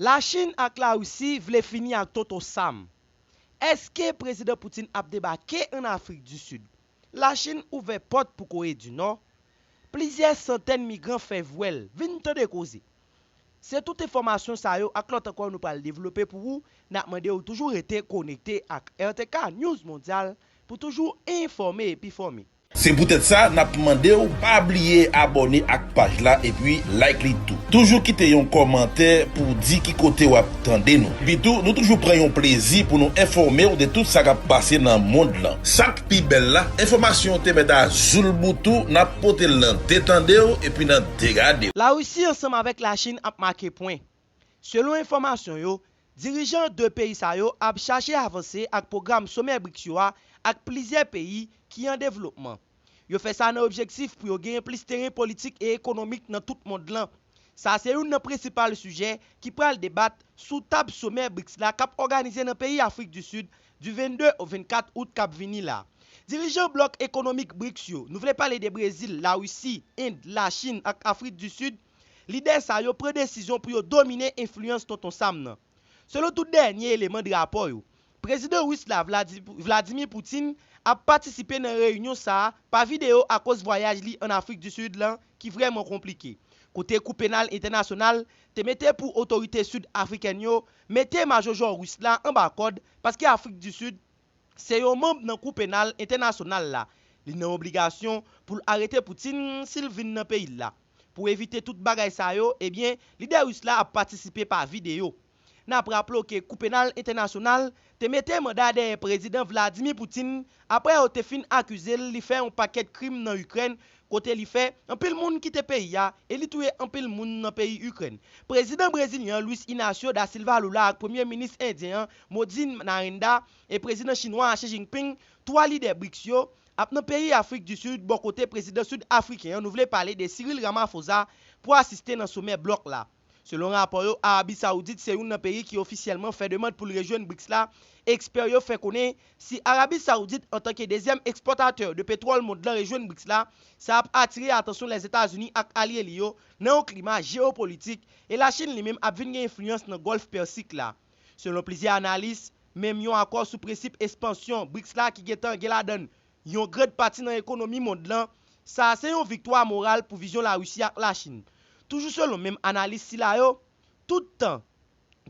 La Chine ak la Russie vle fini ak Tonton Sam. Eske Prezidan Putin ap debake an Afrik du Sud? La Chine ouvè pòt pou Kore du Nò. Plizyè santèn migran fè vwèl. Vin tande koze. Se tout enfòmasyon sa yo ak lòt ankò nou pral devlope pou ou. Nap mande ou toujou rete konekte ak RTK News Mondial pou toujou enfòme epi fòme. Se poutèt sa nap mandew pa bliye abòne ak paj la epi like li tou. Toujou kite yon kòmantè pouw di ki kote wap tande nou. Epitou nou toujou pran yon plezi pou nou enfòmew de tout sa kap pase nan mond lan. Sak pi bèl la, enfòmasyon te mèt a joul boutou nap potel nan de tandew epi nan de gadew. La Russie ansanm avèk la Chine ap make pwen. Selon enfòmasyon yo, dirijan 2 peyi sa yo ap chache avanse ak pwogram Somè BRICS yo a ak plizyè peyi ki an devlopman. Yo fè sa nan objektif pou yo genyen plis teren politik e ekonomik nan tout mond lan. Sa se youn nan prensipal sijè ki pral debat sou tab somè BRICS la k ap òganize nan peyi Afrik di Sid di 22 au 24 out k ap vini la. Dirijan blòk ekonomik BRICS yo, nou vle pale de Brezil, Larisi, End, Lachin ak Afrik di Sid, Lidè sa yo pran desizyon pou yo domine enfliyans Tonton Sam nan. Selon tout dènye eleman de rapò yo, Prezidan Ris la Vladimir Putin ap patisipe nan reyinyon sa a pa videyo akoz vwayaj li an Afrik di Sid lan ki vrèman konplike, kote Kou Penal Entènasyonal te mete pou otorite sid-afrikèn yo mete majojò Ris la anba kòd paske Afrik di Sid Se yon manb nan Kou Penal Entènasyonal la, li nan obligasyon pou l arete Putin si l vin nan peyi l la. Pou evite tout bagay sa yo, ebyen, lidè ris la ap patisipe pa videyo. N ap raple w ke Kou Penal Entènasyonal te mete manda dèyè Prezidan Vladimir Putin apre yo te fin akize l li fè yon pakèt krim nan Ikrèn kote li fè anpil moun kite peyi a e li touye anpil moun nan peyi Ikrèn. Prezidan brezilyen an Luis Inacio da Silva Lula ak premye minis endyen an Modi Narendra e prezidan chinwa a Xi Jinping, 3 lidè BRICS yo, ap nan peyi Afrik di Sid bò kote prezidan sid afriken an nou vle pale de Cyril Ramaphosa pou asiste nan somè blòk la. Selon rapò yo, Arabi Saoudit se youn nan peyi ki ofisyèlman fè demand pou l rejwenn BRICS la, ekspè yo fè konnen si Arabi Saoudit antanke dezyèm ekspòtatè de petwòl mond lan rejwenn BRICS la, sa ap atire atansyon Lèzetazini ak alye li yo nan yon klima jeyopolitik e Lachin li menm ap vin gen enfliyans nan Gòlf Pèsik la. Selon plizyè analis, menm yon akò sou prensip espansyon BRICS la ki gentan gen ladann yon grand pati nan ekonomi mond lan, sa a se yon viktwa moral pou vizyon Larisi ak Lachin. Toujou selon menm analis sila yo, tout tan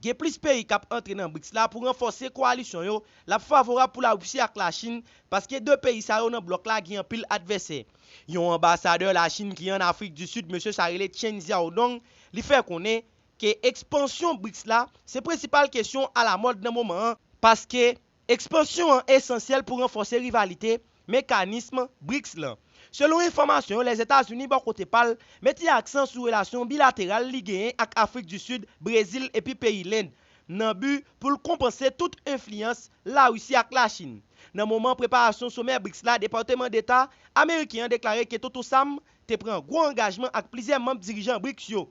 gen plis peyi k ap antre nan BRICS la pou ranfòse koalisyon yo, l ap favorab pou Larisi ak Lachin, paske 2 peyi sa yo nan blòk la gen anpil advèsè. Yon anbasadè Lachin ki an Afrik di Sid, mesye sa rele Chen Xiaodong, li fè konnen ke ekspansyon BRICS la se prensipal kesyon alamòd nan moman an, paske Ekspansyon an esansyèl pou ranfòse rivalite mekanism BRICS lan. Selon enfòmasyon yo Lèzetazini bò kote pa l mete aksan sou relasyon bilateral li genyen ak Afrik di Sid, Brezil epi peyi Lend nan bi pou l konpanse tout enfliyans Larisi ak Lachin. Nan moman preparasyon somè BRICS la Depateman Deta ameriken an deklare ke Toto Sam te pran gwo angajman ak plizyè manm dirijan BRICS yo.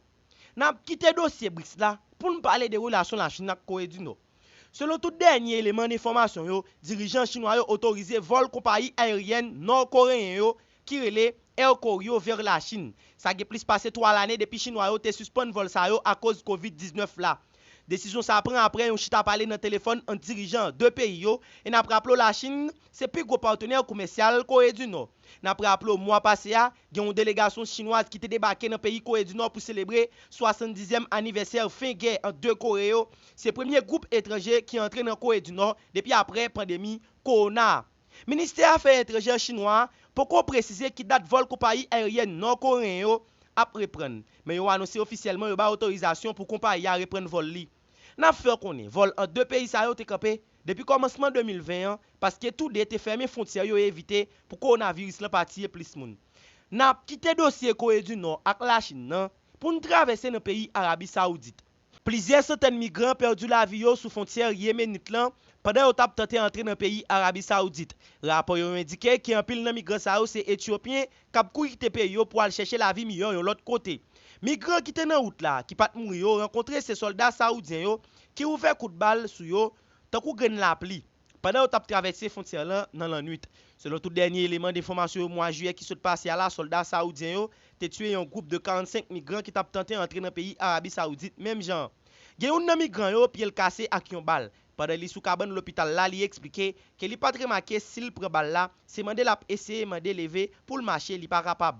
N ap kite dosye BRICS la pou n pale de relasyon Lachin ak Kore di Nò. Selon tout dènye eleman enfòmasyon yo, dirijan chinwa yo otorize vòl konpayi ayeryèn nò-koreyen yo ki rele Air Koryo vers la Chine. Sa gen plis pase 3 lane depi chinwa yo te sispann vòl sa yo akoz Covid 19 la. Desizyon sa pran aprè yon chita pale nan telefòn ant dirijan 2 peyi yo e n ap raple w Lachin se pi gwo patenè komèsyal Kore di Nò. N ap raple w mwa pase a, Gen yon delegasyon chinwaz ki te debake nan peyi Kore di Nò pou selebre 70 zièm anivèsè fen gè ant 2 Kore yo, se premye gwoup etranje ki antre nan Kore di Nò depi aprè pandemi kowona a. Ministè afè etranjè chinwa a poko presize ki dat vòl konpayi ayeryèn nò koreyen yo ap reprann, men yo anonse ofisyèlman yo bay otorizasyon pou konpayi a reprann vòl li. Nap fè w konnen vòl ant 2 peyi sa yo te kanpe depi kòmansman 2020 an paske tou 2 te fèmen fwontyè yo evite pou kowonaviris lan pa tiye plis moun. N ap kite dosye Kore di Nò ak Lachin nan pou n travèse nan peyi Arabi Sawoudit. Plizyè santèn migran pèdi lavi yo sou fwontyè Yemenit lan pandan yo t ap tante antre nan peyi Arabi Sawoudit. Rapò yo endike ke anpil nan migran sa yo se Etyopyen, k ap kouri kite peyi yo pou al chèche lavi miyò yon lòt kote. Migran ki te nan wout la, ki pa t mouri yo rankontre se sòlda sawoudyen yo ki ouvè kout bal sou yo tankou grenn lapli pandan yo t ap travèse fwontyè lan nan lannwit. Selon tout dènye eleman denfòmasyon yo mwa jiyè ki sot pase a la sòlda sawoudyen yo te tiye yon gwoup de 45 migran ki t ap tante antre nan peyi Arabi Sawoudit menm jan an gen youn nan migran yo pye l kase ak yon bal Pandan li sou kabann lopital la li eksplike ke li pat remake si l pran bal la, se mande l ap eseye mande leve pou l mache li pa kapab.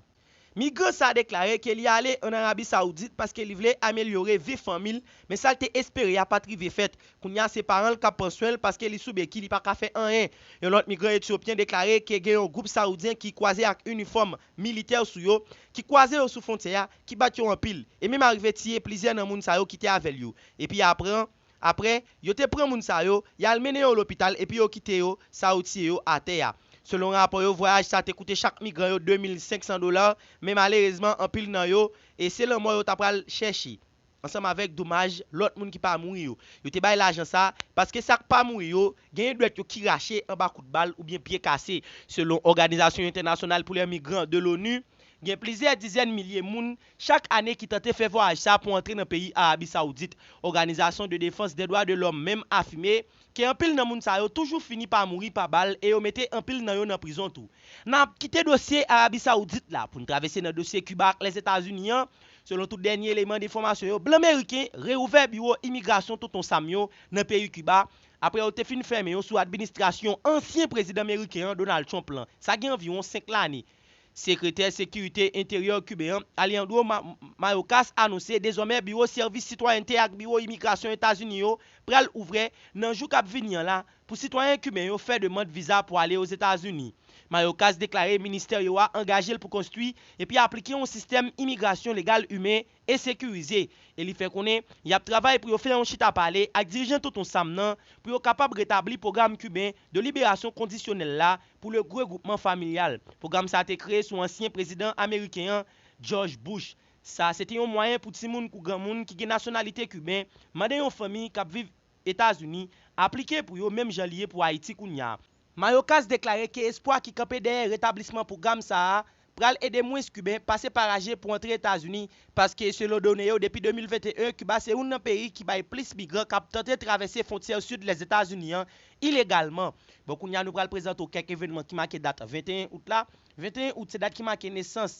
Migran sa deklare ke li ale an Arabi Saoudit paske li vle amelyore vi fanmi l men sa l te espere a pat rive fèt, kounye a se paran l k ap pran swen l paske li sou beki li pa ka fè anyen. Yon lòt migran Etyopyen deklare ke gen yon gwoup Saoudyen ki kwaze ak inifòm militè sou yo, ki kwaze yo sou fwontyè a, ki bat yo anpil, e menm arive tiye plizyè nan moun sa yo ki te avè l yo, epi apre an. Apre, yo te pran moun sa yo, y al mennen yo lopital epi yo kite yo sa yo tiye yo atè a. Selon rapò yo, vwayaj sa te koute chak migran yo 2 mil 500 dola, men malerezman anpil nan yo, e se lanmò yo ta pral chèche. Ansanm avèk domaj lòt moun ki pa mouri yo. Yo te bay lajan sa, paske sa k pa mouri yo, genyen dwèt yo ki rache anba kout bal oubyen pye kase. Selon Òganizasyon Entènasyonal pou lè Migran de l'ONU, gen plizyè dizèn milye moun Chak ane ki tante fè vwayaj sa pou antre nan peyi Arabi Saoudit, òganizasyon de defans dè dwa de lòm menm afime ke anpil nan moun sa yo toujou fini pa mouri pa bal e yo mete anpil nan yo nan prizon tou. N ap kite dosye Arabi Saoudit la pou n travèse nan dosye Kiba ak Lèzetazini an, selon tout dènye eleman de enfòmasyon yo blan meriken reouvè biwo imigrasyon Tonton Sam yo nan peyi Kiba apre yo te fin fèmen yo sou administrasyon ansyen prezidan meriken an Donald Trump lan sa gen anviwon 5 lane. Sekretè sekirite enteryè Kiben an, Alejandro Mayorkas anonse dezòmè biwo sèvis sitwayènte ak biwo imigrasyon Etazini yo pral ouvrè nan jou kap vini an la pou sitwayen Kiben yo fè demand viza pou ale Ozetazini. Mayorkas deklare ministè yo a angaje l pou konstwi epi aplike yon sistèm imigrasyon legal imen e sekirize e li fè konnen y ap travay pou yo fè yon chita pale ak dirijan Tonton Sam nan pou yo kapab retabli pwogram kiben de liberasyon kondisyonèl la pou le gregwoupman familyal pwogram sa te kreye sou ansyen prezidan ameriken an Jòj Bouch sa se te yon mwayen pou timoun kou granmoun ki gen nasyonalite kiben mande yon fanmi k ap viv Etazini aplike pou yo menm jan li ye pou Ayiti kounya. Mayorkas deklare ke espwa ki kanpe dèyè retablisman pwogram sa a pral ede mwens Kiben pase pa raje pou antre Etazini, paske selon done yo depi 2021 Kiba se youn nan peyi ki bay plis migran k ap tante travèse fwontyè sid Lèzetazini an ilegalman. Bon kounye a nou pral prezante w kèk evènman ki make dat 21 out la. 21 out se dat ki make nesans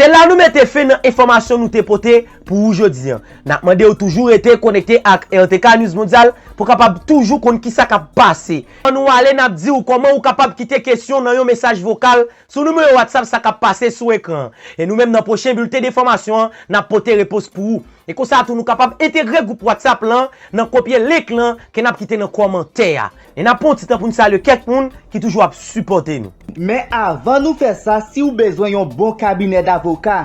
Se la nou mete fen nan enfòmasyon nou te pote pou ou jodi an. N ap mande ou toujou rete konekte ak RTK News Mondial pou w kapab toujou konn kisa k ap pase. Anvan nou ale, n ap di ou kòman ou kapab kite kesyon nan yon mesaj vokal sou nimewo WhatsApp sa k ap pase sou ekran an. E nou menm nan pwochen bilten denfòmasyon an, n ap pote repons pou ou. E konsa tou nou kapab entegre gwoup WhatsApp lan nan kopye link lan ke n ap kite nan kòmantè a. E nap pran yon ti tan poun salye kèk moun ki toujou ap sipòte nou. Men avan nou fè sa siw bezwen yon bon kabinè davoka,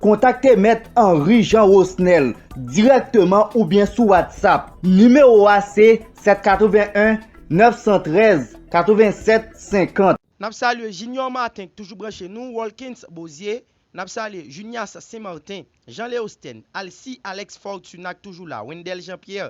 kontakte mèt Henry Jean Rosnel dirèkteman oubyen sou WhatsApp. Nimewo a se 781 913 87 50. Nap salye Junior Martin k toujou branche nou, Walkens Bozier, nap salye Junias St Martin, Jean Leostène, Alcy Alex Fortuna k toujou la, Wendel Jean Pierre,